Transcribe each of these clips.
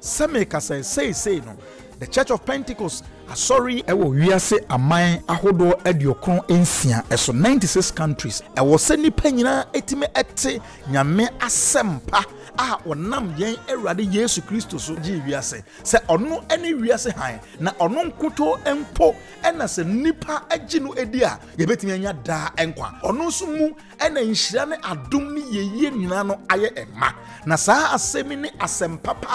Sɛ merekasa yi, seesei no, The Church of Pentecost, Asɔre yi, wɔ wiase aman ahodoɔ aduokron nsia so, ninety six countries, ɛwɔ sɛ nnipa nyinaa tumi te Nyame asɛmpa a ɔnam yɛn Awurade Yesu Kristo so gyee wiase sɛ ɔno ne wiase hann, na ɔno nkutoo mpo na sɛ nnipa gye no di a yɛbɛtumi anya daa nkwa, ɔno nso mu. ɛna nhyira ne adom ne yɛyie nyinaa no ayɛ ɛma. Na saa asɛm yi ne asɛm papa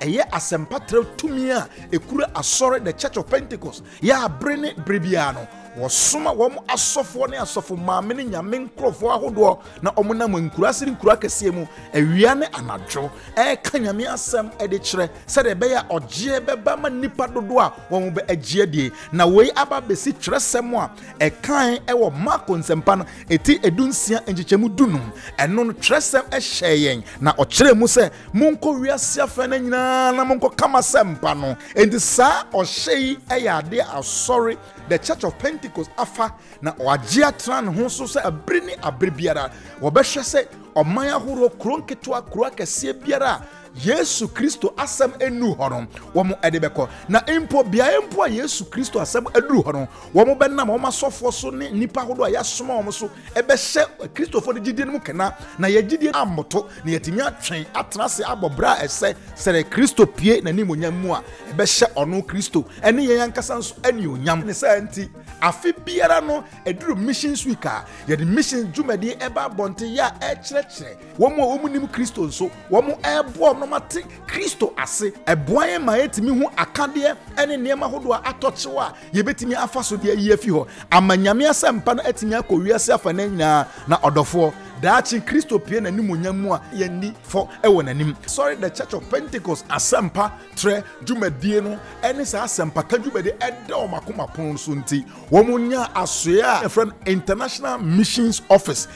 a ɛyɛ asɛmpa trɛ tumi a ɛkura asɔre the church of Pentecost yɛ abere ne bere biara no wɔsoma wɔn asɔfoɔ ne asɔfo maame ne nyame nkurɔfoɔ ahodoɔ na wɔn nam nkuraase ne nkura kɛseɛ mu awia ne anadwo ɛreka nyame asɛm de kyerɛ sɛdeɛ ɛbɛyɛ a ɔgyeɛ bɛba ma nnipa dodoɔ a wɔn bɛ agyeɛ die na wei aba bɛsi twerɛsɛm a ɛkae wɔ Marko nsɛmpa no eti edunsia nkyekyɛmu dunum. Ɛno no twerɛsɛm hyɛɛ yɛn na ɔkyerɛɛ mu sɛ, Monkɔ wiase afanan nyinaa na monkɔka m'asɛmpa no. Enti saa ɔhyɛ yi yɛ adeɛ a asɔre, The Church of Pentecost, afa na wɔagye atena ne ho so sɛ bere ne abere biara wɔbɛhwɛ sɛ ɔman ahoroɔ, kuro nketewa, kuro akɛseɛ biara a Yesu Kristo asɛm nnuru hɔ no, wɔn de bɛkɔ. Na mpo beaeɛ mpo a Yesu Kristo asɛm aduru hɔ no, wɔn bɛnam wɔn asɔfoɔ so ne nnipa ahodoɔ a yɛasoma wɔn so bɛhyɛ Kristofoɔ no gyidie no mu kena, na yɛn gyidie ammoto, na yɛatumi atwɛn atena ase abɔ berɛ a ɛsɛ sɛ Kristo pue n'animuonyam mu a ɛbɛhyɛ ɔno Kristo ne yɛn ankasa nso anuonyam. Ne saa nti, afe biara no ɛduru Missions Week a, yɛde Missions dwumadie ba abɔnten yɛ a ɛrekyerɛkyerɛ Wɔn a wɔnnim Kristo nso, wɔreboa wɔn ma te Kristo ase. Ɛboa yɛn ma yɛtumi hu akadeɛ ne nneɛma hodoɔ a atɔ kyew a yɛbɛtumi afa so de ayi afi hɔ ama Nyame asɛmpa no atumi akɔ wiase afanan nyinaa. Na ɔdɔfoɔ, daakye Kristo pue n'animuonyam mu a yɛnni fɔ wɔ n'anim. Sɔre The Church of Pentecost asɛmpa trɛ dwumadie no ne saa asɛmpaka dwumadie a ɛda wɔn akoma pono so nti, wɔnyaa asoeɛ a yɛfrɛ no International Missions Office.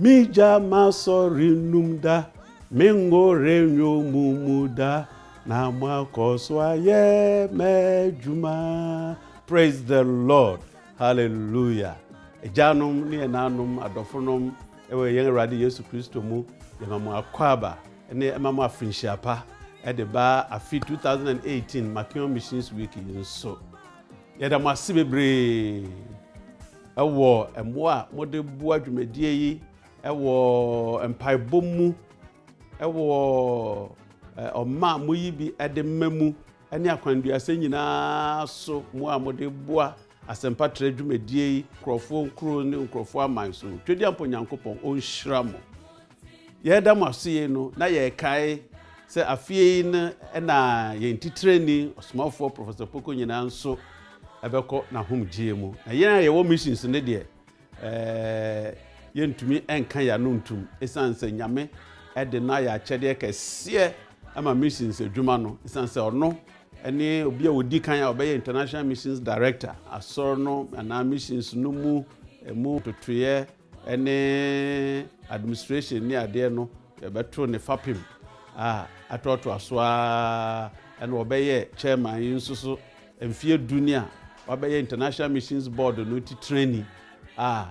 M'egya m'asɔre nnum da, me ngo renyo mo mu da, na mo akɔ so ayɛ m'adwuma. Praise the Lord. Hallelujah. Agyanom ne ɛnanom adɔfonom ɛwɔ yɛn Awurade Yesu Kristo mu, yɛma mo akwaaba ne ɛma mo afinhyia pa ɛde ba afi 2018 Makeon Missions Week yi nso. Yɛda mo ase bebree wɔ mmoa a mode boa dwumadie yi wɔ mpaebɔ mu, wɔ ɔma a moyi bi de mma mu, ne akwanduasɛ nyinaa so mmoa a mode boa asɛmpa trɛ dwumadie yi, nkurɔfoɔ nkuro ne nkurɔfoɔ aman so. Twedeampɔ Nyankopɔn ɔnhyira mo. Yɛreda mo ase yei no, na yɛrekae sɛ afeɛ yi no na yɛn titirani ɔsomafoɔ Professor Poko nyinaa nso ɛbɛkɔ n'ahomgyeɛ mu. Na yɛn a yɛwɔ missions no deɛ, ɛɛ, yɛntumi nka yɛn ano ntum ɛsiane sɛ Nyame ɛde no ayɛ akyɛdeɛ kɛseɛ ɛma missions adwuma no ɛsiane sɛ ɔno ɛne obi a ɔdi kan a ɔbɛyɛ International Missions Director asɔre no anaa missions no mu ɛmu totoeɛ ne administration ne adeɛ no yɛbɛto ne fapem a atoatoa so ara ɛna ɔbɛyɛ chairman yi nso so mfeɛ du ni a wabɛyɛ international missions board no titirani a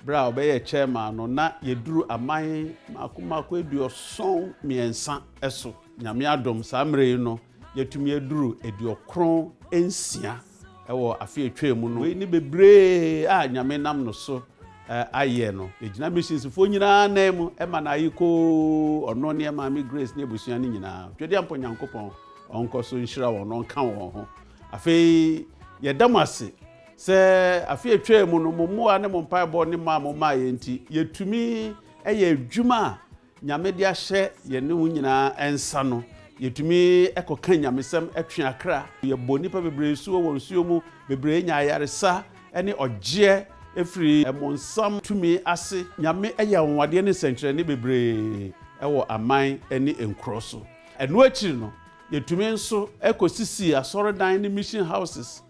berɛ a ɔbɛyɛ chairman no na yɛduru aman mako mako aduɔson mmiɛnsa so nyame adom saa mmerɛ yi no yɛtumi aduru aduɔkron nsia wɔ afe a etwaam mu no. Wei ne bebree a Nyame nam no so ayɛ no. Egyina missionsfoɔ nyinaa nan mu ma no aye koo, ɔno ne Maame Grace ne abusua no nyinaa. Twedeampɔ Nyankopɔn ɔnkɔ so nhyira wɔn na ɔnka wɔn ho. Afei yɛda mo ase sɛ afe a etwaam mu no, mo mmoa ne mo mpaebɔ ne mɔ a momaeɛ nti, yɛtumi yɛ adwuma a Nyame de ahyɛ yɛne wo nyinaa nsa no, yɛtumi kɔka nyamesɛm twe akra. Yɛbɔ nnipa bebree nsu wɔ wɔn nsuo mu, bebree nya ayaresa ne ɔgyeɛ firi ɛmonsam tumi ase. Nyame yɛ anwanwadeɛ ne nsɛnkyerɛnne bebree wɔ aman ne nkuro so. Ɛno akyiri no, yɛtumi nso kɔ sisii asɔredan ne mission houses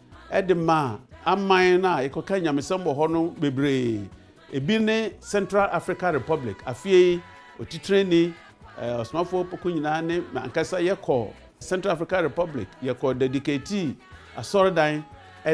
de maa aman no a yɛkɔka nyamesɛm wɔ hɔ no bebree. Ebi ne Central Africa Republic. Afie yi, otitrenni, Ɔsomafoɔ Opoku nyinaa ne me ankasa yɛkɔɔ Central Africa Republic. Yɛkɔɔ Dediketii Asɔredan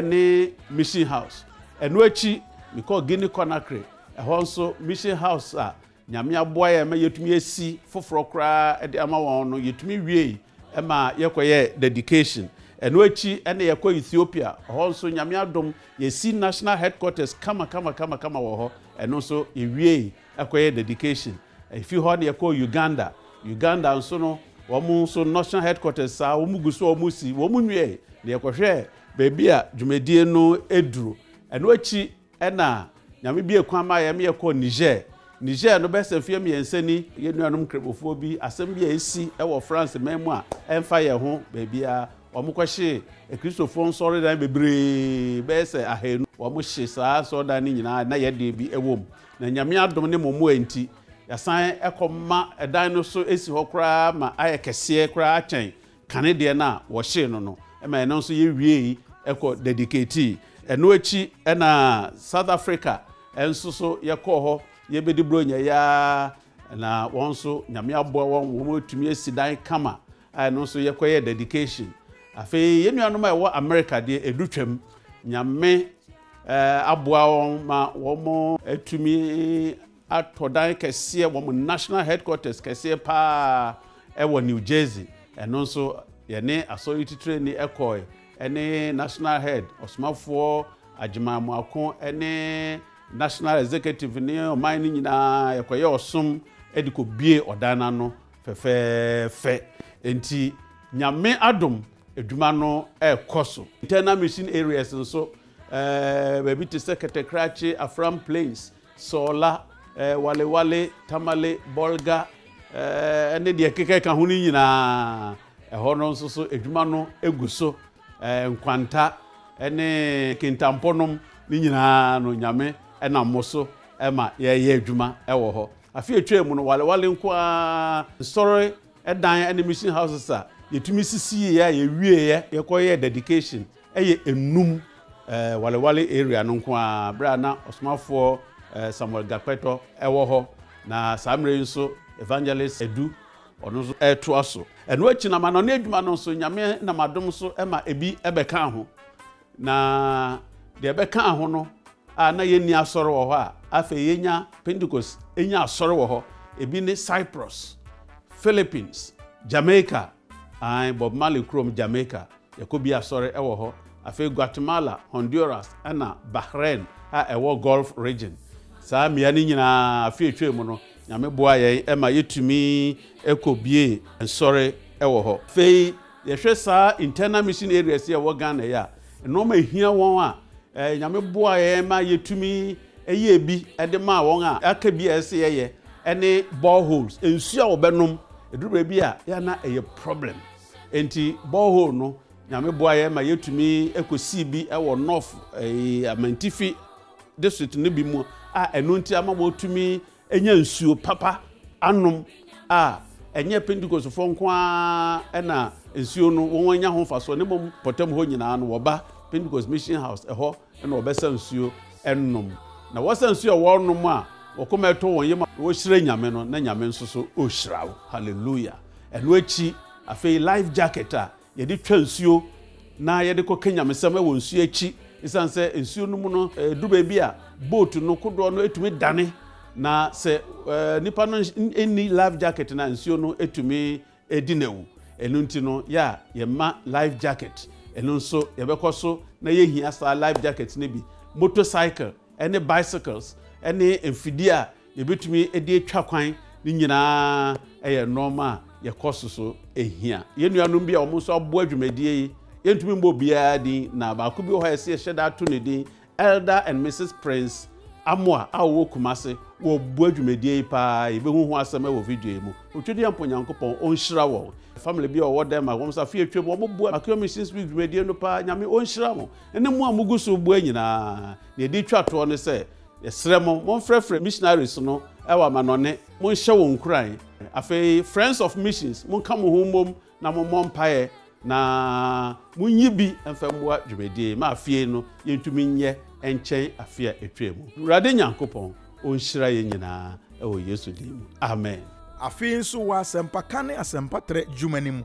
ne Mission House. Ɛno akyi, mekɔɔ Guinea Conakry. Ɛhɔ nso, Mission House a Nyame aboa yɛn ma yɛtumi asi foforɔ koraa de ama wɔn no, yɛtumi wiei ma yɛkɔyɛɛ dedication. Ɛno akyi na yɛkɔɔ Ethiopia, hɔ nso Nyame adom yɛasi National Headquarters kama kama kama kama wɔ hɔ, ɛno nso yɛwiei kɔyɛɛ dedication. Ɛfiri hɔ na yɛkɔɔ Uganda, Uganda nso no wɔn nso National Headquarters saa wɔn gu so a wɔn si, wɔn nwiei na yɛkɔhwɛɛ baabi a dwumadie no duru. Ɛno akyi. Ɛna Nyame biee kwan maa yɛn ma yɛkɔɔ Niger. Niger no, bɛyɛ sɛ mfeɛ mmiɛnsa ni, yɛn nuanom Nkramofoɔ bi, asɛm bi a asi wɔ France man mu a ɛmfa yɛn ho baabiara, wɔkɔhyee Akristofoɔ nsɔredan bebree, bɛyɛ sɛ ahanu. Wɔhye saa nsɔredan no nyinaa a na yɛn deɛ bi wɔ mu. Na Nyame adom ne mo mmoa nti, yɛasan kɔma ɛdan no so si hɔ koraa ma ayɛ kɛseɛ koraa kyɛn kane deɛ no a wɔhyee no no ma ɛno nso yɛwiei kɔ dedicatii. Ɛno akyi na South Africa nso so yɛkɔɔ hɔ yɛbɛdi Buronya yi ara na wɔn nso Nyame aboa wɔn wɔn atumi asi dan kama a ɛno nso yɛkɔyɛ dedication. Afei yɛn nuanom a ɛwɔ America deɛ ɛdu twam Nyame aboa wɔn ma wɔn atumi atɔ dan kɛseɛ, wɔn national headquarters kɛseɛ paa wɔ New Jersey. Ɛno nso, yɛne asɔre titrani kɔe, ɛne national head, ɔsomafoɔ Agyeman Moako, ɛne national executive ne ɔman no nyinaa, yɛkɔyɛ ɔsom de kɔbue ɔdan no ano fɛfɛɛfɛ. Enti, Nyame adom, adwuma no rekɔ so. Internal mission areas nso, baabi te sɛ Kɛtɛkrakye, Afram Plains, Sɔɔla, Walewale, Tamale, Bɔlga ne deɛ ɛkeka ka ho no nyinaa. Ɛhɔ no nso so adwuma no gu so. Nkwanta ne kintampɔ nom no nyinaa no Nyame nam mo so ma yɛyɛ adwuma wɔ hɔ. Afe a ɛtwaa mu no Walewale nko ara nsɔre dan ne mission houses a yɛtumi sisiiɛ a yɛwieɛ yɛkɔyɛɛ dedication Ɛyɛ Enum eh, Walewale area no nko ara berɛ a na Ɔsomafoɔ eh, Samuel Gakpɛtɔ ɛwɔ hɔ. Na saa mmerɛ yi nso Evangelist Edu ɔno nso ɛretoa so. Ɛno akyi no amanɔne adwuma no nso Nyame nam adom so ɛma ebi ɛbɛkaa ho. Na deɛ ɛbɛkaa ho no a na yɛnni asɔre wɔ hɔ a afei yɛnya Pentecost ɛnya asɔre wɔ hɔ. Ebi ne Cyprus, Philippines, Jamaica, Aane, Bob Marley kurom Jamaica, yɛkɔ bi asɔre ɛwɔ hɔ, afei Guatemala, Honduras ɛna Bahrain a ɛwɔ Gulf Region. Saa mmea no nyinaa afe a ɛtwaam no Nyame boaa yɛn ma yɛtumi kɔ biee nsɔre ɛwɔ hɔ. Afei yɛhwɛ saa internal mission areas yi a ɛwɔ Ghana yi a, Nnoɔma a ɛhia wɔn a Nyame boaa yɛn ma yɛtumi yɛɛ bi de maa wɔn a aka bi a ɛsɛ sɛ yɛyɛ ne bore holes, nsuo a wɔbɛnom, ɛduru baabi a yɛ a na ɛyɛ problem nti bore hole no Nyame boa yɛn ma yɛtumi kɔsii bi wɔ North Amantifi district no bi mu a ɛno nti ama wɔtumi nya nsuo papa anom a, ɛnyɛ Pentekostefoɔ nko ara na nsuo no wɔn anya ho mfasoɔ ne mmom pɔtam hɔ nyinaa no wɔba Pentecost Mission House ɛhɔ na wɔbɛsa nsuo ɛnom na wɔsa nsuo a wɔnom a wɔkoma ɛtɔ wɔn yam a wɔhyira Nyame no na Nyame nso so ɔhyira wo hallelujah ɛno akyi afei life jacket a Yɛde twa nsuo na yɛde kɔ ka nyamesɛm wɔ nsuo akyi. Esiane sɛ nsuo no mu no, ɛduru baabi a boat no kodoɔ no tumi dane. Na sɛ nipa no nni life jacket no a, nsuo no tumi di no awu. Ɛno nti no, yɛ a yɛma life jacket. Ɛno nso yɛbɛkɔ so na yɛhia saa life jacket no bi. Motorcycle ne bicycles ne mfidie a yɛbɛtumi de atwa kwan ne nyinaa yɛ nnoɔma a yɛkɔ so so hia. Yɛn nuanom bi a wɔn nso aboa dwumadie yi, yɛntumi mbɔ biara din na baako bi wɔ hɔ a yɛsɛ yɛhyɛ da ato ne din, Elder and Mrs Prince Amoah a wɔwɔ Kumase, wɔboa dwumadie yi paa, yɛbɛhu ho asɛm wɔ video yi mu. Otwediampɔ Nyankopɔn ɔnhyira wɔn. Family bi a wɔwɔ Denmark, wɔn nso afe atwam, wɔn boa Makewa Missions Week dwumadie no paa, Nyame ɔnhyira mo, ɛne mo a mogu so boa nyinaa. Deɛ ɛde twa toɔ ne sɛ, Yɛsrɛ mo, monfrɛfrɛ missionaries no wɔ amanɔnne, monhyɛ wɔn nkuran. Afei, Friends of Missions, monka mo ho mmom na mommɔ mpaeɛ, na monyi bi mfa mmua dwumadie ma afie no yɛntumi nyɛ nkyɛn afe a ɛtwaa mu. Awurade Nyankopɔn ɔnhyira yɛn nyinaa wɔ Yesu din mu, amen. Afei nso wɔ asɛmpaka ne asɛmpatrɛ dwuma no mu,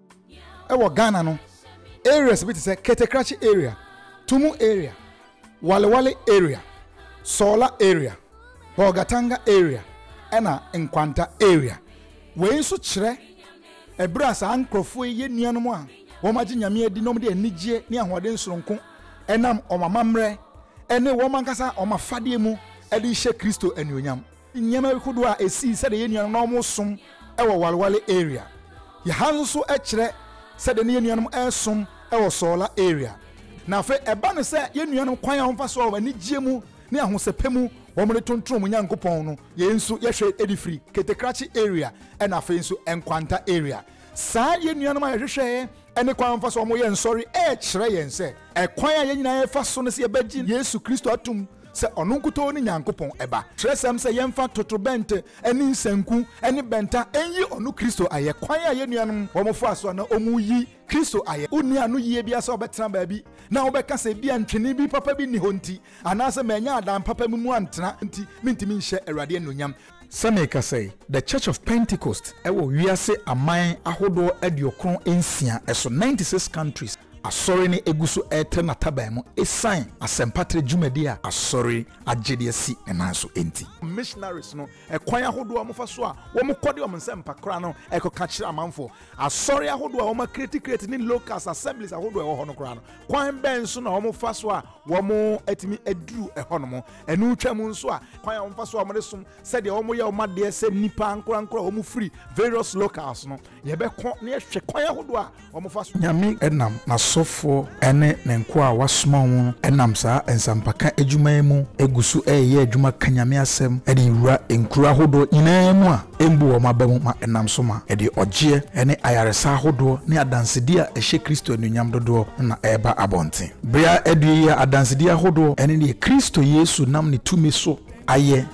Ɛwɔ Ghana no, areas bi te sɛ Ketekrakye area, Tumu area, Walewale area, Sɔɔla area, Bolgatanga area ɛna Nkwanta area. Wei nso kyerɛ ɛberɛ a saa nkorɔfoɔ yi yɛ nuanom a wɔn agye Nyame adi na wɔn de anigyeɛ ne ahoɔden sononko ɛnam wɔn amammerɛ ɛne wɔn ankasa wɔn afadeɛ mu ɛde rehyɛ Kristo anuonyam. Nneɛma bi kodoɔ a ɛsii sɛdeɛ yɛn nuanom na wɔn som wɔ Walwale area yɛ ha nso so kyerɛ sɛdeɛ na yɛn nuanom resom wɔ Sɔɔla area na afei ɛba no sɛ yɛn nuanom kwan a wɔn fa so wɔ anigyeɛ mu ne ahosɛpɛ mu wɔn de tontron wɔn Nyankopɔn no yɛn nso yɛhwɛ de firi Ketekrakye area ɛna afei nso Nkwanta area saa yɛn nuanom a yɛhwehwɛɛ ne kwan wɔfa so a wɔyɛ nsɔre rekyerɛ yɛn sɛ ɛkwan a yɛn nyinaa yɛfa so no sɛ yɛbɛgye Yesu Kristo atom sɛ ɔno nkutoo ne Nyankopɔn Ba. Kyerɛsɛm sɛ yɛmfa totorobɛnto ne nsanku ne bɛnta nyi ɔno Kristo ayɛ. Kwan a yɛn nuanom wɔfaa so a na wɔreyi Kristo ayɛ. Wonni ano yiye biara sɛ wobɛtena baabi na wobɛka sɛ ebia ntwene bi papa bi nni hɔ nti, anaasɛ mannya adan papa bi mu antena nti, mintumi nhyɛ Awurade anuonyam. Sɛ merekasa yi, The Church of Pentecost wɔ wiase aman ahodoɔ aduokron nsia so, ninety six countries, Asɔre no gu so retrɛ n'ataban mu ɛsiane asɛmpatrɛ dwumadie a Asɔre agye de asi ne nan so nti. Missionaries no, ɛkwan ahodoɔ a wɔfa so a wɔkɔ de wɔn nsɛmpa kora no kɔka kyerɛ amanfoɔ. Asɔre ahodoɔ a wɔakreti kreti ne locals, assemblies, ahodoɔ a ɛwɔ hɔ no koraa no, kwan bɛn so na wɔfa so a wɔatumi aduru hɔnom. Ɛno twam nso a, kwan a wɔfa so a wɔde som sɛdeɛ wɔyɛ wɔn adeɛ sɛ nnipa ankorankoro a wɔfiri various locals no, yɛbɛkɔ na yɛhwɛ kwan ahodoɔ a wɔfa so. Nyame nam N'asɔfoɔ ne Ne nkoa a Wasoma wɔn nam saa nsampaka adwuma yi mu gu so reyɛ adwuma ka Nyame asɛm de wura nkuro ahodoɔ nyinaa mu a, mbu wɔn aba mu ma ɛnam so ma ɛde ɔgyeɛ ne ayaresa ahodoɔ ne adansedi a ɛhyɛ Kristo anuonyam dodoɔ no na ɛreba abɔnten. Bere a adue yi a adansedi ahodoɔ ne deɛ Kristo Yesu nam ne tumi so ayɛ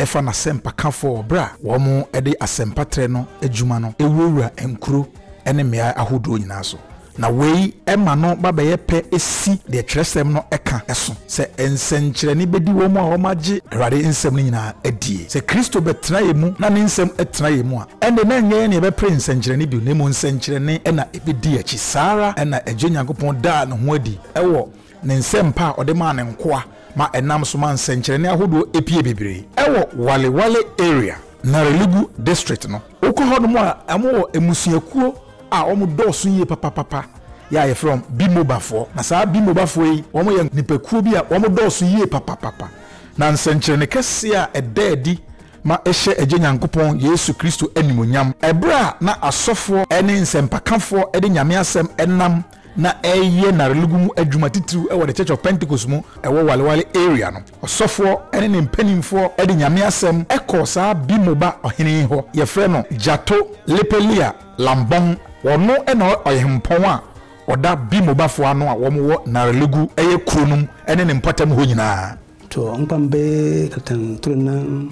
fa n'asɛmpakafoɔ wɔ berɛ a wɔde asɛmpatrɛ no adwuma no wurawura nkuro ne mmeaɛ ahodoɔ nyinaa so Na wei ma no ba bɛyɛ pɛ si deɛ twerɛsɛm no ka so, sɛ nsɛnkyerɛnne bɛdi wɔn a wɔagye Awurade nsɛm no nyina ara die. Sɛ Kristo bɛtena yɛn mu na ne nsɛm tena yɛn mu a, ɛnde na ɛnyɛ yɛn na yɛbɛpere nsɛnkyerɛnne bio, na mmom nsɛnkyerɛnne na ɛbɛdi yɛn akyi. Saa ara na Agya Nyankopɔn daa ne ho adi wɔ ne nsɛmpa a ɔde maa ne nkoa ma ɛnam so ma nsɛnkyerɛnne ahodoɔ pue bebree wɔ Wale Wale Area, Narelegu District no. Wokɔ hɔnom a, wɔwɔ mmusuakuo a wɔdɔɔso yie papapapa yi a wɔfrɛ wɔn Bimobafoɔ. Na saa Bimobafoɔ yi, wɔyɛ nnipakuo bi a wɔdɔɔso yie papapapa. Na nsɛnkyerɛnne kɛseɛ a ɛda adi ma ɛhyɛ Agya Nyankopɔn, Yesu Kristo animuonyam. Ɛberɛ a na asɔfoɔ ne nsɛmpakafoɔ de Nyame asɛm nam na ɛreyɛ n'arelogu mu adwuma titiriw wɔ The Church of Pentecost mu ɛwɔ Walewale area no. Ɔsɔfoɔ ne ne mpanimfoɔ de Nyame asɛm kɔɔ saa Bimoba ɔhene yi hɔ, yɛfrɛ no Jato Lepelia Lambong. Ɔno na ɔhempɔn a ɔda Bimobafoɔ ano a wɔn wɔ Narelogu yɛ kuro no mu ne ne mpɔtam hɔ nyinaa. Tɔ nkpambe katan toro nan.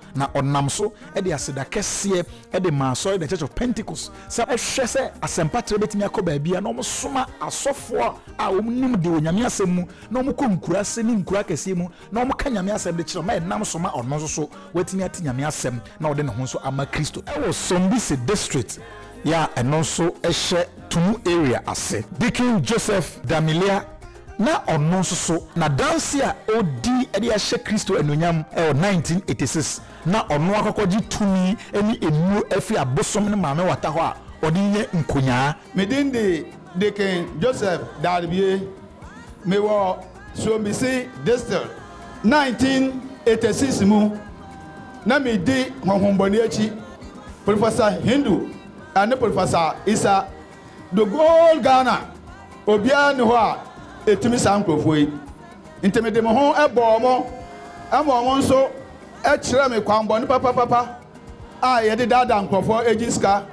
na ɔnam so de aseda kɛseɛ de maa Asɔre The Church of Pentecost sɛ ɔhwɛ sɛ asɛmpa trɛ bɛtumi akɔ baabiara na wɔsoma asɔfoɔ a wɔnim de wɔ Nyame asɛm mu na wɔkɔ nkuraase ne nkuro akɛseɛ mu na wɔka Nyame asɛm de kyerɛ ma ɛnam so ma ɔno nso so watumi ate Nyame asɛm na ɔde ne ho nso ama Kristo wɔ Sombisi District yɛ a ɛno nso hyɛ Tumu Area ase. Deacon Joseph Damilia na ɔno nso so n'adanse a odi de ahyɛ Kristo anuonyam wɔ 1986 na ɔno akɔkɔgye tumi ne nnuru afi abosom ne maame wata hɔ a ɔde renya nkonyaa. Me din de Deacon Joseph Darbie. Me wɔ Suombisi District. 1986 mu na me di honhombɔne akyi, Professor Hindu ne Professor Isa. The whole Ghana obiara nni hɔ a ɛtumi saa nkurɔfoɔ yi nti mede me ho bɔɔ mo ma wɔn nso kyerɛɛ me kwanbɔne papapapa a yɛde daadaa nkurɔfoɔ gye sika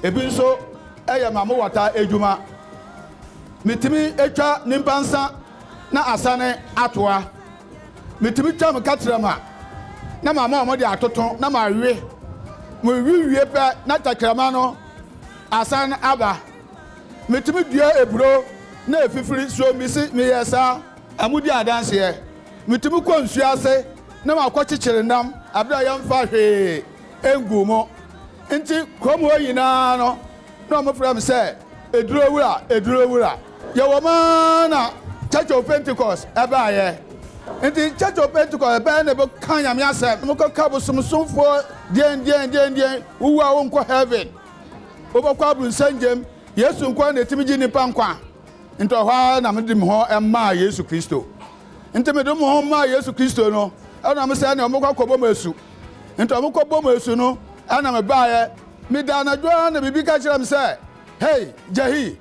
ebi nso yɛ ma mowata adwuma metumi twa nipa nsa na asane atoa metumi twa me katrama na mama wɔn de atoto na mawe mewe wie pɛ na tɛkrɛma no Asan aba. Metumi dua aburo na afifiri so mise meyɛɛ saa. Modi adanseɛ. Metumi kɔ nsuo ase na makɔkyekyere nam berɛ a yɛmfaa hwee nguu mu. Nti kurom hɔ nyinaa no na wɔfrɛ me sɛ Aduro Wura, Aduro Wura. Yɛwɔ mu ara na Church of Pentecost baeɛ. Nti Church of Pentecost bɛyɛ na ɛbɛka Nyame asɛm. Mokɔka bosomsomfoɔ deɛndeɛndeɛndeɛn, wowu a wonkɔ heaven. Wobɔkɔ abronsɛn gyem, Yesu nkoaa na etumi gye nnipa nkwa. Nti ɔhɔ ara na mede me ho maa Yesu Kristo. Nti mede mo ho maa Yesu Kristo no, ɛna mo sɛ ne ɔmo kɔ kɔbɔ mo asu. Nti ɔmo kɔ bɔ mo asu no, ɛna me baeɛ. Meda anadwo ara na biribi ka kyerɛ me sɛ, Hei, Jahi,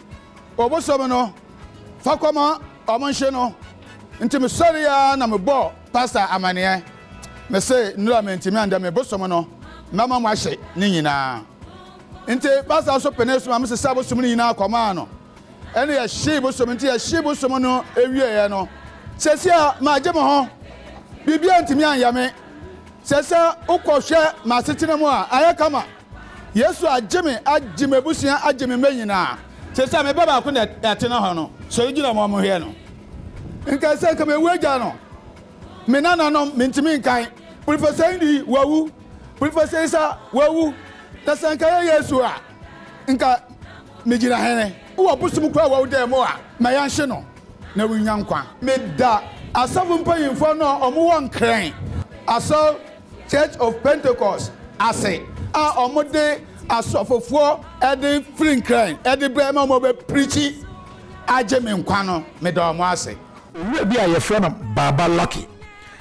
obosom no, fa kɔma ɔmo nhye no. Nti me sɔreɛ ara na me bɔɔ Pastor amaneɛ mese nnura mentimi andɛ me bosom no mɛma mo ahye ne nyinaa nti pastor nso pene so ma me sesa bosom no nyinaa kɔmaa no ɛne yɛhyee bosom nti yɛhyee bosom no ɛwieɛ no sɛsia magye mo ho biribia ntimi anyɛ me sɛsia wokɔhwɛ m'asetena mu a ayɛ kama Yesu agye me, agye m'abusua, agye me mma nyinaa. Te sɛ me ba baako na ɛtena hɔ no, sɔre gyina ma wɔnhwɛ no. Nkae sɛ nka mewu agya no, me nananom, mentumi nkan. Professor Indi, wawu. Professor Isa, wawu. Na sɛ nka ɛyɛ Yesu a, nka megyina hene. Wɔ bosom koro a wawu dan mu a, ma yɛnhye no na wonnya nkwa. Meda asɔfo mpanyimfo no a wɔwɔ Nkrɛn asɔr Church of Pentecost ase a ɔmo de asɔfofoɔ de firi nkran de brɛ ma ɔmo bɛ preachi agye me nkwa no me da ɔmo ase. Owura bi a yɛfrɛ no Baaba Lucky.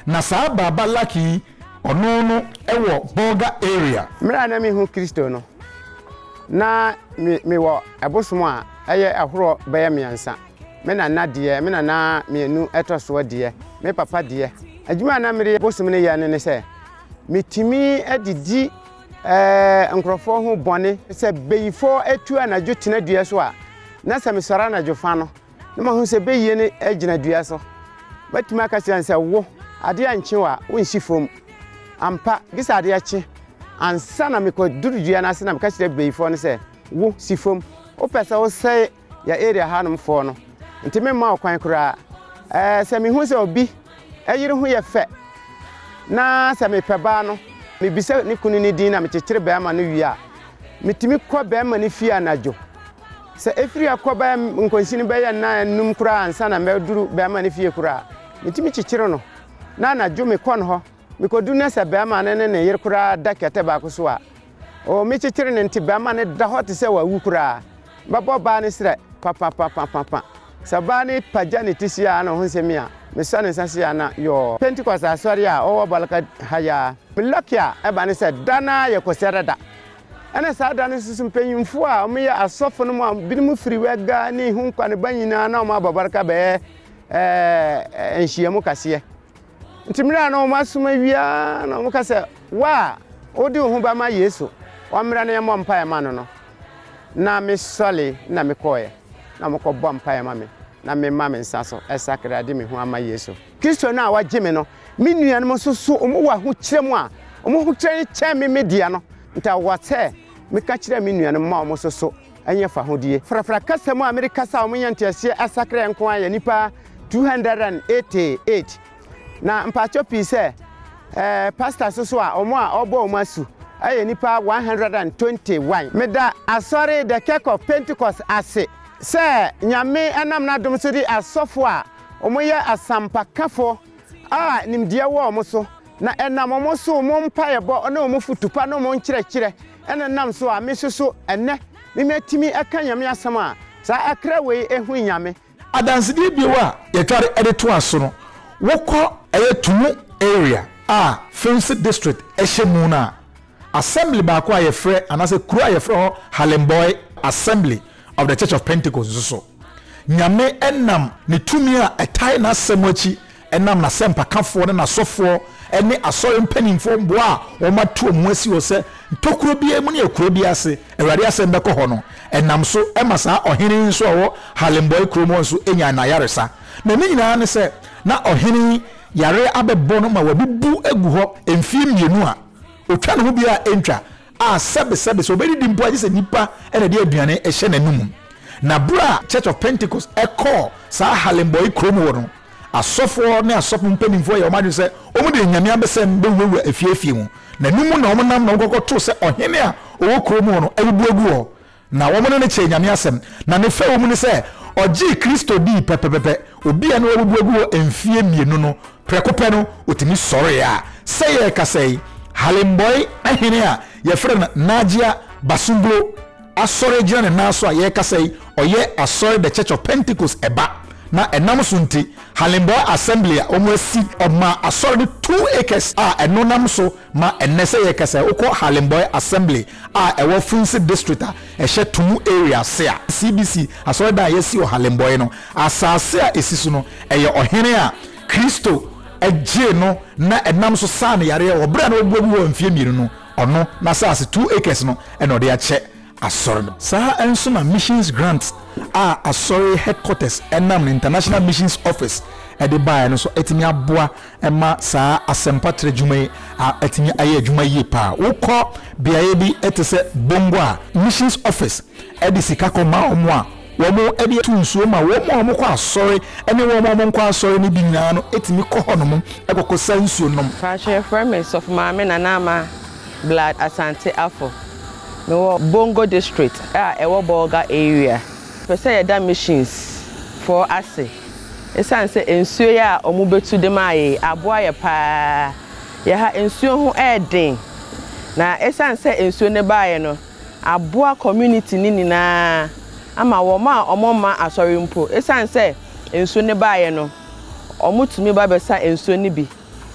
Na saa Baaba Lucky yi ɔno no wɔ Bolga area. Mmerɛ a na menhu Kristo no, na me wɔ ɛbosom a ɛyɛ ahorɔ bɛyɛ mmeɛnsa. Me nana deɛ, me nana mmienu ɛtɔ soɔ deɛ, me papa deɛ, adwuma a na mede bosom no yɛ no ne sɛ, metumi de di eh, nkurɔfoɔ ho bɔne. Sɛ beyifoɔ atu anadwo tena dua so a, na sɛ mesɔre anadwo fa no, na mahu sɛ beyie no gyina dua so. Mɛtumi aka kyerɛ no sɛ, wo, adeɛ ankye wo a, wonsi fam. Ampa, gye sɛ adeɛ kye. Ansa na mekɔduru dua no ase na meka kyerɛ beyifoɔ no sɛ, wo, si fam. Wopɛ sɛ wosɛe yɛ area hanom foɔ no nti me mma ɔkwan koraa ɛɛ sɛ me hu sɛ obi ɛyere ho yɛ fɛ na sɛ me pɛ baa no me bisa ne kunu ne din na me kyekyere bɛrima no wie a me tumi kɔ bɛrima ne fie anadwo sɛ efiri akɔ bɛɛ nkonsi no bɛyɛ nna enum koraa ansa na mɛduru bɛrima ne fie koraa me tumi kyekyere no na anadwo me kɔ no hɔ Mekɔduru na sɛ barima no ne ne yere koraa da kɛtɛ baako so a, oo me kyekyere no nti barima no da hɔ te sɛ wawu koraa. Mɛbɔ ɔbaa no serɛ papapapapapa. Sɛ ɔbaa no pagya ne ti seaa na ɔho sɛ me a, mesɔ ne nsa seaa na yɔɔ. Pentecost asɔre a ɔwɔ Balaka ha yi ara. Me lucky a ɛba ne sɛ da no ara yɛ Kɔsiada da. Ɛna saa da no nso so mpanyimfoɔ a wɔyɛ asɔfo no mu a binom firi Wɛga ne Ihunkwa ne ba nyinaa na wɔabɔ Balaka bɛyɛ ɛɛ nhyiamu kaseɛ. Nti mmerɛ a na wɔn asom awie ara na wɔn ka sɛ wo a wode wo ho ba ma Yesu ɔmmra na yɛmmɔ mpaeɛ ma no no na me sɔle na me kɔɔɛ na wɔn kɔ bɔ mpaeɛ ma me na me ma me nsa so ɛsakra de me ho ama Yesu Kristo no a wagye me no me nuanom nso so wɔn wɔ ahokyerɛ mu a wɔn ahokyerɛ no kyɛn me me deɛ no nti awɔ sɛ meka kyerɛ me nuanom ma wɔn nso so ɛnyɛ fahodie. Frafra kasa mu a mede kasa a wɔnya nteaseɛ asakraɛ nko ara yɛ nnipa 288. Na mpakyɛw pii sɛ ɛɛ pastors nso a wɔn a wɔbɔ wɔn asu ɛyɛ nnipa 121. Meda Asɔre The Kirk of Pentecost ase sɛ Nyame nam n'adom so de asɔfo a wɔyɛ asampakafo a nimdeɛ wɔ wɔn so na ɛnam wɔn so wɔn mpaebɔ ne wɔn fotu pa ne wɔn nkyerɛkyerɛ Ɛna nam so a me nso so ɛnnɛ me matumi ɛka Nyame asɛm a saa akra wei ɛhu Nyame. Adansedie bio a yɛtware de toa so no, wokɔ. Ɛyɛ Tumu area a Fimsi district ɛhyɛ mu no a, assembly baako a yɛfrɛ anaasɛ kuro a yɛfrɛ hɔ Halemboy Assembly of the Church of Pentecost nso so. Nyame nam ne tumi a ɛtae n'asɛm akyi nam n'asɛmpakafoɔ ne n'asɔfoɔ ne asɔre mpanimfoɔ mmoa a wɔato wɔn ho asi hɔ sɛ ntokuro biara mu ne akuro biara ase Awurade asɛm bɛkɔ hɔ no nam so ma saa ɔhene yi nso a ɔwɔ Halenbɔe kurom hɔ nso nyaa n'ayaresa. Na ne nyinaa ne sɛ na ɔhene yi yareɛ abɛbɔ no ma wabubu agu hɔ mfeɛ mmienu a ɔtwa ne ho biara ntwa a sɛbesɛbe sɛ ɔbɛdidi mpo a, gye sɛ nnipa na ɛde aduane hyɛ n'anom. Na berɛ a Church of Pentecost kɔɔ saa Harlemboy kuro mu hɔ no, asɔfoɔ ne asɔfo mpanimfoɔ yɛɛ wɔn adwene sɛ wɔde anyame abɛsɛm bɛwurawura afie afie mu, na ɛno mu na wɔnam na wɔkɔkɔto sɛ ɔhene a ɔwɔ kuro mu hɔ no abubu agu hɔ, Na wɔn ne no kyɛɛ Nyame asɛm, na ne fɛwmu ne sɛ ɔgyee Kristo dii pɛpɛpɛpɛ, obi a na wabubu agu hɔ mfie mmienu no, prɛko pɛ no ɔtumi sɔree a sɛ yɛrekasa yi Halembɔe ahene a yɛfrɛ no Najia Basunglo asɔre gyina ne nan so a yɛrekasa yi ɔyɛ asɔre The Church of Pentecost ɛba na ɛnam so nti Halembɔe Assembly a wɔn asi ɔmaa asɔre no two acres a ɛno nam so ma ɛnnɛ sɛ yɛrekasa yi wokɔ Halembɔe Assembly a ɛwɔ Funsi District a ɛhyɛ Tumu Area ase a CBC asɔredan a yɛasi wɔ Halembɔe no asase a ɛsi so no yɛ ɔhene a Kristo gyee no na ɛnam so saa no yareɛ wɔ berɛ a na wabuabu hɔ mfeɛ mmienu no, ɔno n'asase two acres no na ɔde akyɛ asɔre no. Saa ara nso na Missions Grant a asɔre headquarters nam no International Missions Office de baeɛ no nso atumi aboa ɛma saa asɛmpa tra adwuma yi atumi ayɛ adwuma yie pa ara. Wokɔ beaeɛ bi te sɛ Bongo a, Missions Office de sika kɔma wɔn a wɔde tu nsuo ma wɔn a wɔkɔ asɔre ne wɔn a wɔnkɔ asɔre no bi nyinaa no tumi kɔ hɔnom kɔkɔsa nsuo nom. Mpakyɛ yɛfrɛ me Sɔfo Maame Nana Ama Blood Asante Afo. Mewɔ Bongo District a ɛwɔ Bolga Area. Pɛ sɛ yɛda Missions foɔ ase. Esiane sɛ nsuo yi a wɔbɛtu de maa yei aboa yɛ pa ara, yɛ ha nsuo ho yɛ den. Na esiane sɛ nsuo no baeɛ no, aboa community no nyina ara ama wɔn a wɔmma asɔre mpo, esiane sɛ nsuo no baeɛ no, wɔtumi ba bɛsa nsuo no bi.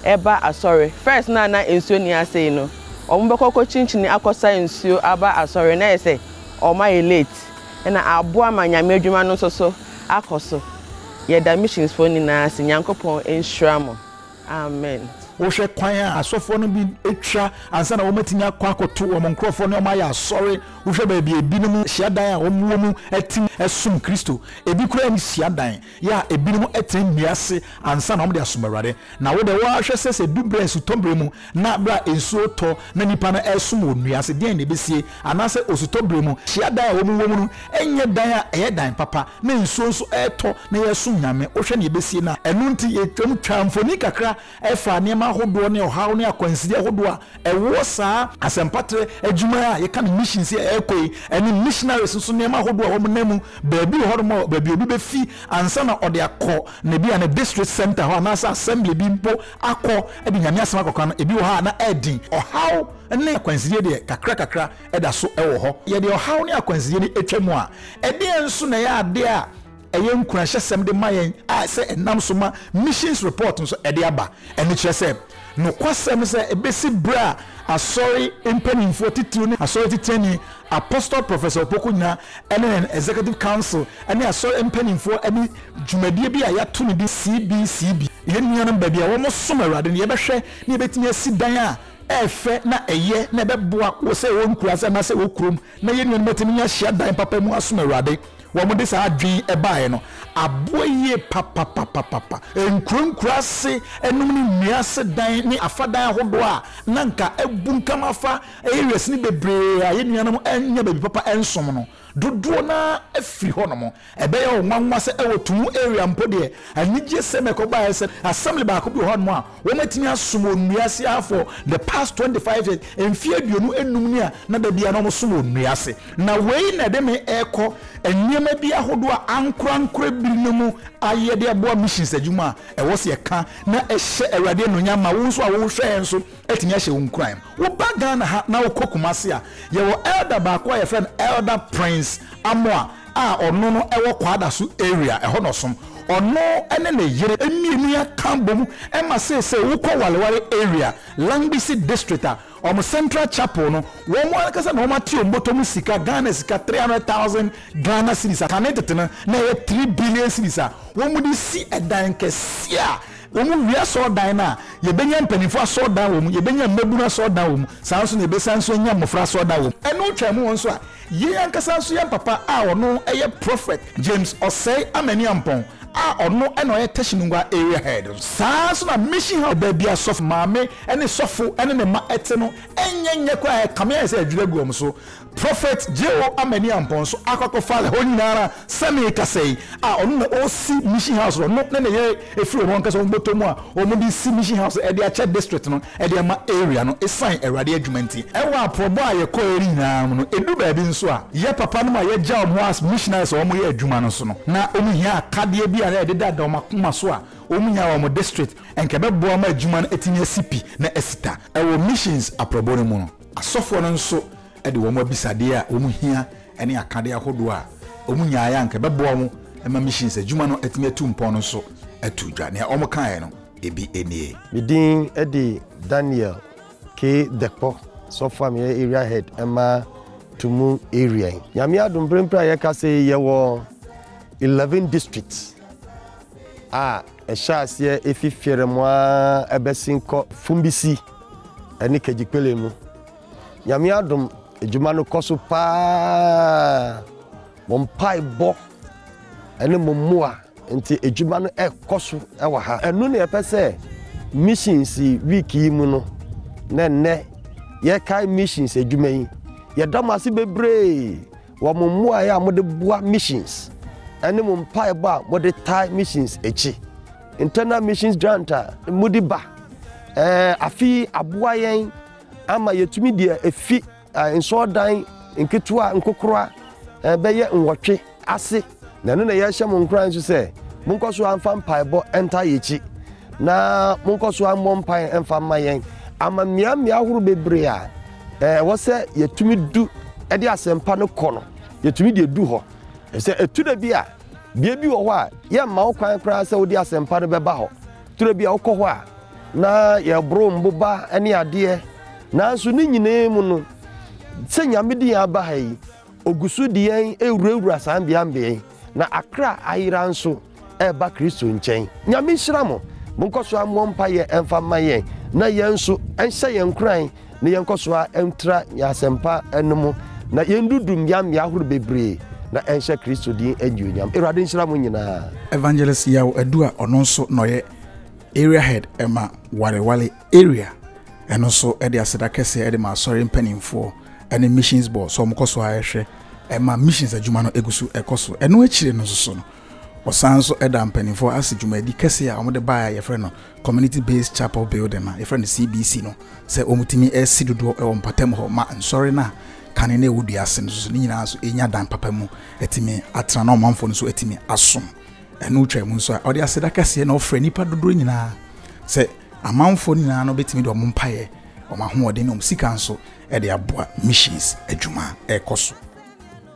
ɛba asɔre. First no a na nsuo nni ase yi no, wɔn bɛkɔ akɔ kyinkyini akɔ sa nsuo aba asɔre na ayɛ sɛ wɔn ayɛ late ɛna aboa ma Nyame adwuma no nso so akɔ so. Yɛda missions foɔ nyinaa ase. Nyankopɔn nhyira mo. Amen. Wohwɛ kwan a asɔfoɔ no bi twa ansa na wɔatumi akɔ akɔto wɔn nkorɔfoɔ ne wɔn ayɛ asɔre. Wohwɛ baabi a ebinom hyiadan a wɔwɔ mu te no som Kristo. Ebi koraa nni hyiadan. Yɛ a ebinom tena nnua ase ansa na wɔde asom Awurade. Na wo de, wo ara hwɛ sɛ sɛ edu bere a esutɔ bere mu na bere a nsu retɔ na nnipa no resom wɔ nnua ase deɛn na ebesie? Anaasɛ osutɔ bere mu hyiadan a wɔwɔ mu no nyɛ dan a ɛyɛ dan papa na nsuo nso retɔ na yɛresom Nyame? Wohwɛ nea ebesie no a. Ɛno nti yɛtwam twaa mfoni kakra ɛfa nneɛma ahodoɔ ne ɔhaw ne akwanside ahodoɔ a ɛwɔ saa asɛmpatrɛ adwuma a yɛka no mission sɛ ɛrekɔ yi ɛne missionaries nso nneɛma ahodoɔ a wɔnam mu baabi hɔ nom a baabi obi bɛfi ansa na ɔde akɔ na ebi a ne district center hɔ anaasɛ assembly bi mpo akɔ de nyame asɛm akɔka no ebi wɔ hɔ a na ɛden ɔhaw ne akwansideɛ deɛ kakra kakra ɛda so ɛwɔ hɔ yɛde ɔhaw ne akwansideɛ no atwa mu a ɛdeɛ nso na ɛyɛ adeɛ a Ɛyɛ nkuranhyɛsɛm de ma yɛn a sɛ ɛnam so ma Missions Report nso ɛde aba. Ɛno kyerɛ sɛ nokwasɛm no sɛ ebesi bere a Asɔre mpanyimfo atitiriw ne Asɔre Titenani Apostle Professor Opoku Nyina ne yɛn Executive Council ne Asɔre mpanyimfo ne dwumadie bi a yɛato no din CBCB, Yɛn Nuanom Baabi a Wɔsom Awurade no, yɛbɛhwɛ na yɛbɛtumi asi dan a ɛfɛ na ɛyɛ na ɛbɛboa wɔ sɛ ɛwɔ nkuraase anaasɛ ɛwɔ kurom na yɛn nuanom atumi anya hyiadan papa mu asom Awurade. wɔde saa adwene baeɛ no aboa yie papapapapa. Nkurankuran ase nom ne nnua ase dan ne afa dan ahodoɔ a na anka abunkam afa areas no bebree a yɛn nuanom nnya baabi papa nsom no, dodoɔ no ara afiri hɔnom. Ɛbɛyɛ wo nwanwa sɛ wɔ Tumu area mpo deɛ, anigyesɛm a ɛkɔbaeɛ ne sɛ assembly baako bi wɔ hɔnom a Wɔatumi asom wɔ nnua ase ha for the past twenty five years, mfe aduonu nnum ni a na da biara na wɔsom wɔ nnua ase. Na wei na ɛde me rekɔ nneɛma bi ahodoɔ a ankorankora bi no mu ayɛ de aboa missions adwuma a ɛwɔ sɛ yɛka na ɛhyɛ Awurade anuonyam ma wo nso a wohwɛ yɛn nso atumi ahyɛ wo nkuran. Woba Ghana ha na wokɔ Kumasi a, yɛwɔ Elder baako a yɛfrɛ no Elder Prince Amoah, a ɔno no wɔ Kwadaso area ɛhɔ na ɔsom. Ɔno ne ne yere mmienu aka abom ma seesei wokɔ Wareware area, Langbisi district a, wɔn central chapel no, wɔn ankasa na wɔate wɔn bɔtɔ mu sika, Ghana sika three hundred thousand Ghana cedis a kane tete no na ɛyɛ three billion cedis a wɔde resi dan kɛseɛ a wɔwie asɔrdan no a yɛbɛnya mpanimfoɔ asɔrdan wɔ mu, yɛbɛnya mmabunu asɔrdan wɔ mu, saa nso na yɛbɛsan nso anya mmɔfra asɔrdan wɔ mu. Ɛno twaam wɔn nso a, Yei ankasa nso yɛ mpapa a ɔno yɛ Prophet James Osei Amani-Ampong a ɔno na ɔyɛ Teshinungwa Area Head nso. Saa ara nso na Mission House baabi a sɔfo maame ne sɔfo ne ne mma te no nyɛ nyɛ koraa, ɛkame ayɛ sɛ adwiri agu wɔn so. Prophet J.O. Amani-Ampong nso akɔ akɔfa hɔ nyina ara sɛ merekasa yi a ɔno na ɔresi Mission House no, ɔno ne ne yere firi wɔn ankasa wɔn bɔtɔ mu a wɔde resi Mission House de akyɛ District no. de ama area no esiane Awurade adwuma nti. Wɔ aporɔbɔ a yɛkɔɔɛ no nyinaa mu no, edu baabi nso a, yɛ papanom a yɛagya wɔn hɔ as missionaries a wɔyɛ adwuma no so no, na wɔhia akadeɛ bi a na ɛdedada wɔn akoma so a wɔnya wɔ wɔn district, anka ɛbɛboa ma adwuma no atumi asi pi na asi ta. Wɔ missions aporɔbɔ no mu no, asɔfoɔ no nso de wɔn abisadeɛ a wɔhia ne akadeɛ ahodoɔ a wɔnyaeɛ a anka ɛbɛboa wɔn ma missions adwuma no atumi atu mpɔn no nso too dwa. Nea wɔkaeɛ no. ebi nie. Me din de Daniel K. Dekpo, sɔfo a meyɛ area head ma Tumu area yi. Nyame adom bere mpere a yɛkasa yi yɛwɔ eleven districts a ɛhyɛ aseɛ efi Fiɛrɛmo a ɛbɛsi nkɔ Fumbisi ɛne Kegyikpele mu. Nyame adom adwuma no kɔ so paa. Mo mpaebɔ ne mo mmoa nti adwuma no rekɔ so wɔ ha. Ɛno na yɛpɛ sɛ Missions Week yi mu no, na nnɛ yɛkae missions adwuma yi. Yɛda mo ase bebree wɔ mo mmuae a mode boa missions ne mo mpaebɔ a mode tae missions akyi. Internal Missions Grant a mode ba afe yi aboa yɛn ama yɛatumi deɛ efi Nsɔrdan nketewa nkokora bɛyɛ nwɔtwe ase. Na ɛno na yɛhyɛ mo nkuran nso sɛ, monkɔ so ara mfa mpaebɔ ntaa yɛn akyi, na monkɔ so ara mmɔ mpae mfa mma yɛn, ama mmeammea ahorow bebree a ɛwɔ sɛ yɛtumi du de asɛmpa no kɔ no, yɛtumi de adu hɔ. Efisɛ ɛtu da bi a, bea bi wɔ hɔ a, yɛmma wo kwan koraa sɛ wode asɛmpa no bɛba hɔ. Turo bi a wokɔ hɔ a na yɛboro mboba ne adeɛ, nanso ne nyinaa mu no, sɛ Nyame de yɛn aba ha yi, Ogu so de yɛn rewurawura saa mbeambea yi, na akra ayera nso reba Kristo nkyɛn. Nyame nhyira mo. Monkɔ so mmɔ mpaeɛ mfa mma yɛn, na yɛn nso, ɛnhyɛ yɛn nkuran na yɛnkɔ so ara ntra yɛn asɛmpa no mu na yɛndudu mmeammea ahorow bebree na ɛnhyɛ Kristo din anuonyam. Awurade nhyira mo nyinaa. Evangelist Yaw Adu a ɔno nso na ɔyɛ Area Head ma Wareware Area ɛno nso de aseda kɛseɛ de ma Asɔre mpanimfoɔ ne Missions Board sɛ wɔkɔ so ara hwɛ ma Missions adwuma no gu so kɔ so. Ɛno akyire no nso so no, Wɔsan nso da mpanimfoɔ ase dwumadi kɛseɛ a wɔde baeɛ a yɛfrɛ no Community Based Chapel Building a yɛfrɛ no CBC no sɛ wɔtumi si dodoɔ wɔ mpɔtam hɔ ma nsɔre no a kane no ɛwɔ dua ase no nso ne nyinaa nso ɛnya dan papa mu atumi atena na ɔmanfoɔ no nso atumi asom ɛno twa mu nso a ɔde aseda kɛseɛ na ɔfrɛ nnipa dodoɔ nyinaa sɛ amanfoɔ nyinaa no bɛtumi de wɔn mpaeɛ wɔn ahoɔden ne wɔn sika nso ɛde aboa missions adwuma ɛrekɔ so.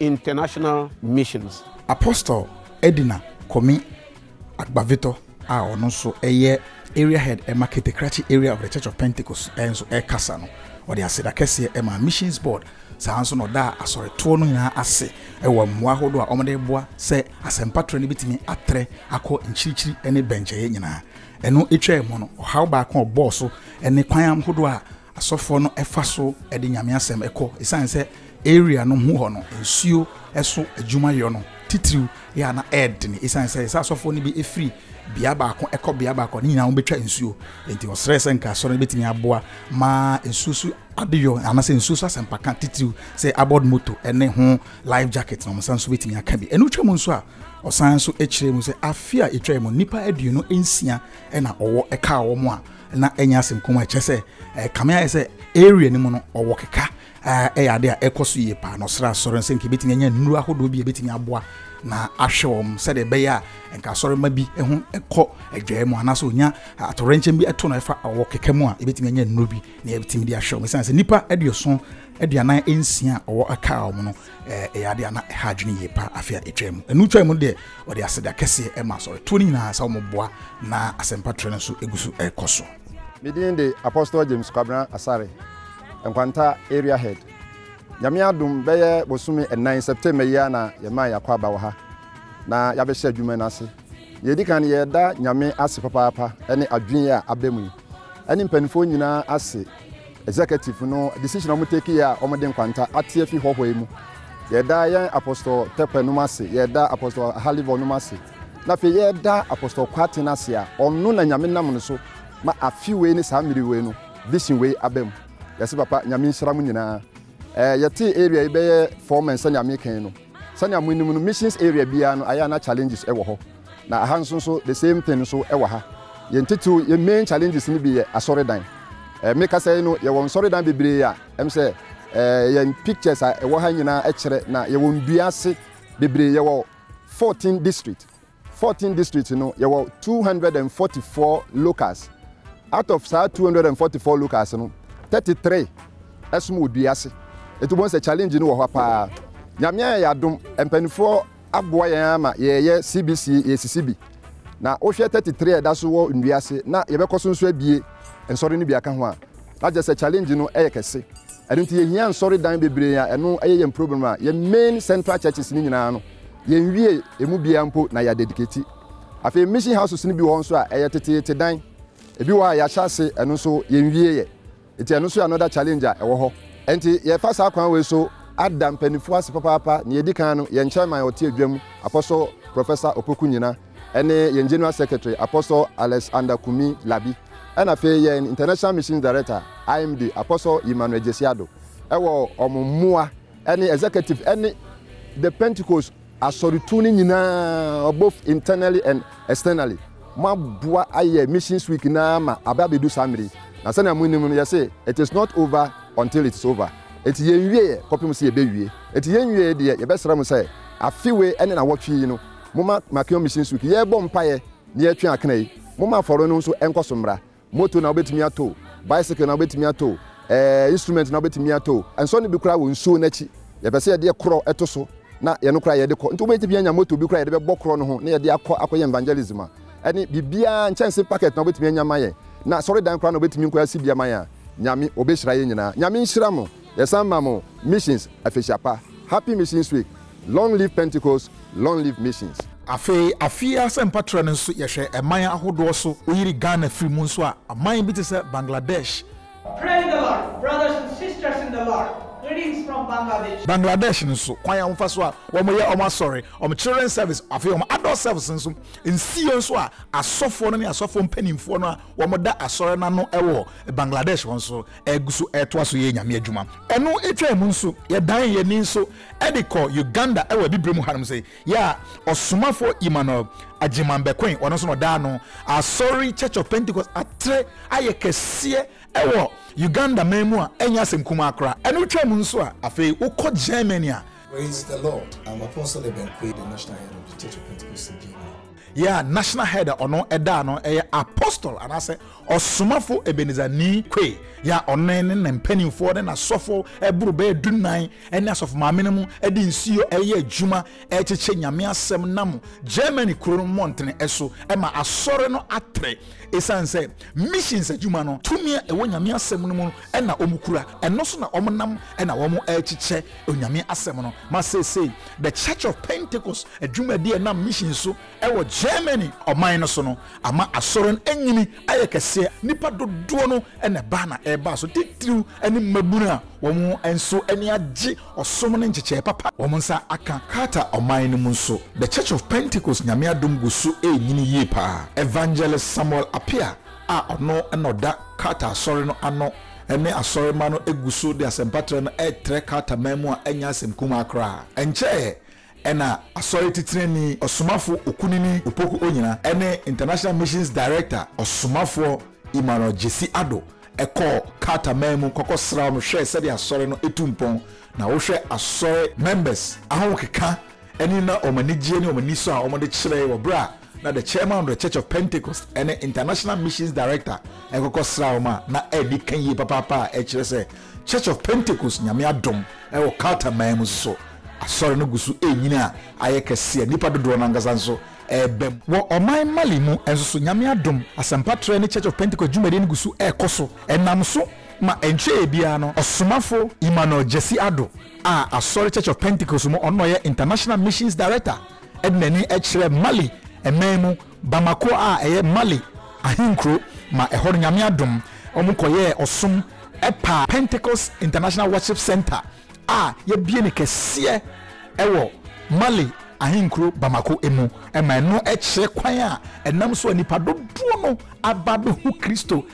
International Missions. Apostle Edina Komi Agbavitɔ a ɔno nso yɛ Area Head ma Ketekrakye Area of the Church of Pentecost nso rekasa no, ɔde aseda kɛseɛ maa Missions Board, saa ara nso na ɔdaa asɔretoɔ no nyinaa ase wɔ mmoa ahodoɔ a wɔde reboa sɛ asɛmpa trɛ no bɛtumi atrɛ akɔ nkyirikyiri ne bɛnkyɛeɛ nyinaa. Ɛno twaa mu no, ɔhaw baako a ɔbɔɔ so ne kwan ahodoɔ a Asɔfoɔ no fa so de Nyame asɛm kɔ esiane sɛ area no ho hɔ no nsuo so adwuma yɔ no titiriw yɛ a na ɛɛdene esiane sɛ sɛ asɔfoɔ no bi firi bea baako kɔ bea baako a ne nyinaa wɔbɛtwa nsuo enti ɔsrɛɛ sɛ nka asɔre no bɛtumi aboa ma nsuo so adeyɔ anasɛ nsuo so asɛmpaka titiriw sɛ aboard moto ne ho life jacket na wɔn nsa nso bɛtumi aka bi ɛno twa mu nso a ɔsan nso kyerɛ mu sɛ afe a ɛtwa mu nnipa aduonu nsia na ɔwɔ ɛkaa wɔn a na ɛnyɛ asɛm kɔn mu a ɛkyɛ sɛ ɛɛ kame ayɛ sɛ area no mu no ɔwɔ keka ɛyɛ ade a ɛkɔ so yie paa na ɔsrɛ asɔre no sɛ nka ebetumi anya nnuro ahodoɔ bi a ebetumi aboa na ahwɛ wɔn sɛdeɛ ɛbɛyɛ a nka asɔre ma bi ho kɔ adwae mu anaasɛ onya atorɛnkyɛm bi ɛto no ɛfa ɔwɔ keka mu a ebetumi anya nnuro bi na ebetumi de ahwɛ wɔn sɛ nipa aduoson aduanan nsia a ɔwɔ aka wɔn no Ɛyɛ ade a na ɛha adwene yie paa afe a etwaam mu. Ɛno twaam no deɛ, wɔde aseda kɛseɛ maa asɔretoɔ no nyinaa sɛ wɔboa na asɛmpa trɛ no nso gu so rekɔ so. Me din de Apostle James Kwabena Asare, Nkwanta Area Head. Nyame adom, bɛyɛ bosome nnan, September yi ara na yɛmaa yɛn akwaaba wɔ ha, na yɛabɛhyɛ adwuma no ase. Nea ɛdi kan no, yɛda Nyame ase papaapa ne adwene yi a aba mu yi. ɛne mpaninfoɔ nyinaa ase executive no decision a wɔn take yɛ a wɔn de nkwanta ate afi hɔhɔ yi mu yɛda yɛn apostol tɛpɛ nom ase yɛda apostol halivɔ nom ase na afei yɛda apostol kwaten ase a ɔno na nyame nam no so ma afi wei ne saa mmiri wei no vision wei aba mu yɛse papa nyame nhyira mo nyinaa ɛɛ yɛte area yi bɛyɛ four men sɛnea mekɛn no sɛnea mo anim no missions area biara no ayɛ na challenges ɛwɔ hɔ Na aha nso nso the same thing nso wɔ ha. Yɛn titiriw yɛn main challenges no bi yɛ asɔredan. Eh, me kasa yi no yɛwɔ nsɔredan bebree a ɛm sɛ eh, yɛn pictures a ɛwɔ ha nyinaa kyerɛ na yɛwɔ ndua ase bebree yɛwɔ 14 district 14 district no yɛwɔ 244 locals out of saa 244 locals no 33 ɛsom wɔ dua ase ɛti wobɛhu sɛ challenge no wɔ hɔ paa nyame ayɛ yɛ adom mpanimfoɔ aboa yɛn ara ma yɛreyɛ CBC yɛresisi bi. Na wohwɛ thirty three a ɛda so wɔ nnua ase na yɛbɛkɔ so nso abue nsɔre no bi aka ho a, na kyerɛ sɛ challenge no yɛ kɛse. Ɛno nti yɛhia nsɔre dan bebree a ɛno yɛ yɛn problem a yɛn main central churches no nyinaa no yɛnwie ɛmu biara mpo na yɛadedicate. Afei mission houses no bi wɔ hɔ nso a ɛyɛ teteete dan, ɛbi wɔ hɔ a yɛahyɛ ase ɛno nso yɛnwieɛ. Nti ɛno nso yɛ another challenge a ɛwɔ hɔ. Nti yɛfa saa kwan wei so ada mpaninfoɔ ase papaapa. Nea ɛdi kan no, yɛn chairman a ɔte adwam, Apostle Professor Opoku Nyina, ɛne yɛn General Secretary, Apostle Alex Ander Kumi Labi, ɛna afei yɛn International Missions Director, IMD, Apostle Emmanuel Gyasi Addo, ɛwɔ wɔn mmoa ɛne Executive ɛne The Pentecost, Asɔretuo no nyinaa both internally and externally mo aboa ayɛ missions week no ara ma aba abɛdu saa mmerɛ yi. Na sɛnea mo nim no yɛse it is not over until it is over. Enti yɛn wieɛ kɔpem sɛ yɛbɛ wie. Enti yɛn wieɛ deɛ yɛbɛ srɛ mo sɛ afe wei ɛne nawɔtwe yi no mo ma Makeon missions week yɛbɔ mpaeɛ na yɛtwe akena yi. Mo ma afɔre no nso ɛnkɔ so mmra. Moto na wobɛtumi ato o, bicycle na wobɛtumi ato o, eh, instrument na wobɛtumi ato o, ɛnsɔ no bi koraa wɔ nsuo no akyi. Yɛpɛ sɛ yɛde yɛ korɔ to so na yɛno koraa yɛde kɔ. Nti wobɛtumi anya moto bi koraa yɛde bɛbɔ korɔ no ho na yɛde akɔ akɔyɛ evangelism a ɛne biribiara nkyɛnse packet na wobɛtumi anya ama yɛn na asɔredan koraa na wobɛtumi nkɔ asi bi ama yɛn a, Nyame, ɔbɛhyira yɛn nyinaa. Nyame nhyira mo. Yɛsan ma mo Missions Afehyia Pa, Happy Missions Week, Long Live Pentecost, Long Live Missions. Afei afie asɛmpa trɛ no nso yɛhwɛ ɛman ahodoɔ so woyiri Ghana firi mu nso a aman bi te sɛ Bangladesh, Praise the Lord brothers and sisters in the Lord greetings from Bangladesh. Bangladesh no nso kwan a wɔfa so a wɔn yɛ wɔn asɔre wɔn children service afei wɔn adult service nso nsiiɛ nso a asɔfoɔ no ne asɔfoɔ mpaninfoɔ no a wɔn da asɔre no ano wɔ Bangladesh hɔ nso ɛgu so retoa so yɛ Nyame adwuma. Ɛno twaa mu nso, yɛdan yɛn ani nso de kɔ Uganda wɔ Abibire mu hanom se, yɛ a Ɔsomafoɔ Emmanuel Agyeman bɛkoe, ɔno nso na ɔdaa no Asɔre Church of Pentecost atere ayɛ kɛseɛ wɔ Uganda man mu a ɛnyɛ asɛm kumaa koraa. Ɛno twaa mu nso a, afei wokɔ Germany a, Praise the Lord I'm Apostle Ebenkwei the National Head of the Church of Pentecost in Germany. Yeah, National Head a ɔno ɛdaa no ɛyɛ Apostle anaasɛ Ɔsomafo Ebenezer Nii Kwei. Yeah, ɔno ne ne mpanimfoɔ ne n'asɔfo ɛboro bɛyɛ du nnan ɛne asɔfo maame no mu ɛde nsuo ɛyɛ adwuma ɛrekyekyɛ Nyame asɛm nam Germany kuro no mmɔntene ɛso ɛma asɔre no atere. Ɛsiane sɛ missions adwuma no tumi a ɛwɔ Nyame asɛm no mu no na wɔkura, ɛno so na wɔnam na wɔrekyekyɛ Onyame asɛm no ma seesei The Church of Pentecost adwumadi a ɛnam mission so wɔ Germany ɔman no so no ama Asɔre no anyini ayɛ kɛseɛ, nnipa dodoɔ no na ɛba na ɛba so titiriw ne mmabunu a wɔn nso ani agye ɔsom ne nkyekyɛɛ papa a wɔn nsa aka. Qatar ɔman no mu nso The Church of Pentecost Nyame adom gu so renyini yie paa. Evangelist Samuel Appiah a ɔno na ɔda Qatar Asɔre no ano ne asɔremma no gu so de asɛmpatrɛ no retrɛ Qatar man mu a ɛnyɛ asɛm kumaa koraa. Ɛnkyɛe na Asɔre Titenani Ɔsomafo Okunini Opoku Onyina ne International Missions Director Ɔsomafoɔ Emmanuel Gyasi Addo kɔɔ Qatar man mu kɔkɔsraa wɔn hwɛɛ sɛdeɛ Asɔre no tu mpɔn na wohwɛ Asɔre members ahokeka ne na wɔn anigyeɛ ne wɔn anisɔ a wɔde kyerɛe wɔ berɛ a na the chairman of the Church of Pentecost ne International Missions Director ɛkɔkɔ sra wɔn a na ɛdi ka yie papaapa a ɛkyerɛ sɛ Church of Pentecost nyame adom ɛwɔ Qatar man mu soso asɔre no gu so ɛrenyini a ayɛ kɛse a nnipa dodoɔ no ankasa nso ɛreba mu. Wɔ ɔman Mali mu nso so nyame adom asɛmpa trɛ ne Church of Pentecost dwumadie no gu so ɛrekɔ so ɛnam so ma ɛntwɛɛ biara no ɔsomafo Emmanuel Gyasi Addo a asɔre Church of Pentecost mu ɔno na ɔyɛ International Missions Director de n'ani kyerɛ Mali man mu Bamako a ɛyɛ Mali ahenkuro ma ɛhɔ no Nyame adom wɔkɔyɛɛ ɔsom pa. Pentecost International Worship Centre a yɛabie no kɛseɛ wɔ Mali ahenkuro Bamako mu ma ɛno kyerɛ kwan a ɛnam so a nnipa dodoɔ no aba abɛhu Kristo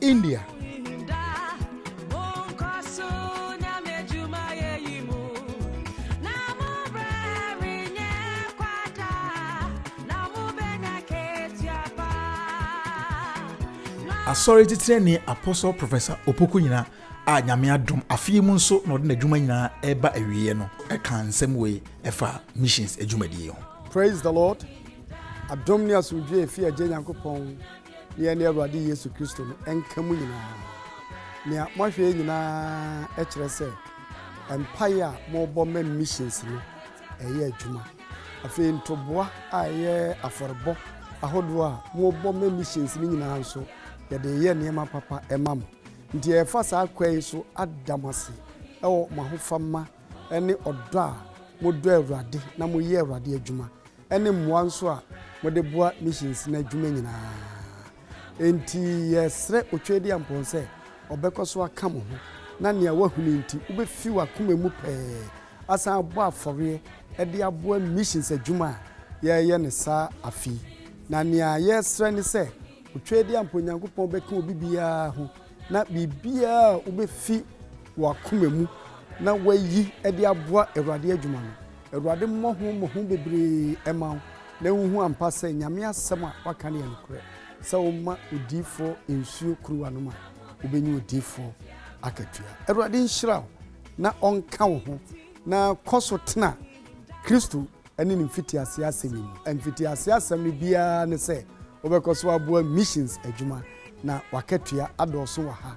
India. asɔre titiani apostle professor opoku nyina a nyame adom afei mu nso na ɔde n'adwuma nyinaa ɛreba awieɛ no ɛka nsɛm wei ɛfa missions adwumadie ho praise the lord adom ne asomdwoe ɛfi agye nyankopɔn Ne yɛne Awurade Yesu Kristo no nka mu nyinaa. Nea moahwɛ yɛ nyinaa kyerɛ sɛ mpae a morebɔ ma missions no reyɛ adwuma. Afei ntoboa a ɛyɛ afɔrebɔ ahodoɔ a morebɔ ma missions no nyinaa nso, yɛde reyɛ nneɛma papa ma mo. Nti yɛrefa saa kwan yi so ada mo ase wɔ mo ahofama ne ɔdɔ a modɔ Awurade na moyɛ Awurade adwuma ne mmoa nso a mode boa missions no adwuma nyinaa. Enti yɛsrɛ Otwedeampɔn sɛ ɔbɛkɔ so aka mo ho na nea woahunu nti wubefi w'akoma mu pɛɛ asan abɔ afɔreɛ de aboa missions adwuma a yɛreyɛ no saa afe yi. Na nea yɛsrɛ ne sɛ Otwedeampɔn Nyankopɔn bɛka obi biara ho na biribiara a wubefi w'akoma mu na woayi de aboa Awurade adwuma no, Awurade mmɔho mmɔho bebree mma wo na wonhu ampa sɛ Nyame asɛm a waka no yɛ nokorɛ, sɛ woma odiyifoɔ nsuo kuruwa nom a, wobɛnya odiyifoɔ akatua. Awurade nhyira wo na ɔnka wo ho, na kɔ so tena Kristo ne Ne mfitiaseɛ asɛm yi mu. Mfitiaseɛ asɛm no biara ne sɛ wobɛkɔ so aboa missions adwuma, na w'akatua adɔɔso wɔ ha.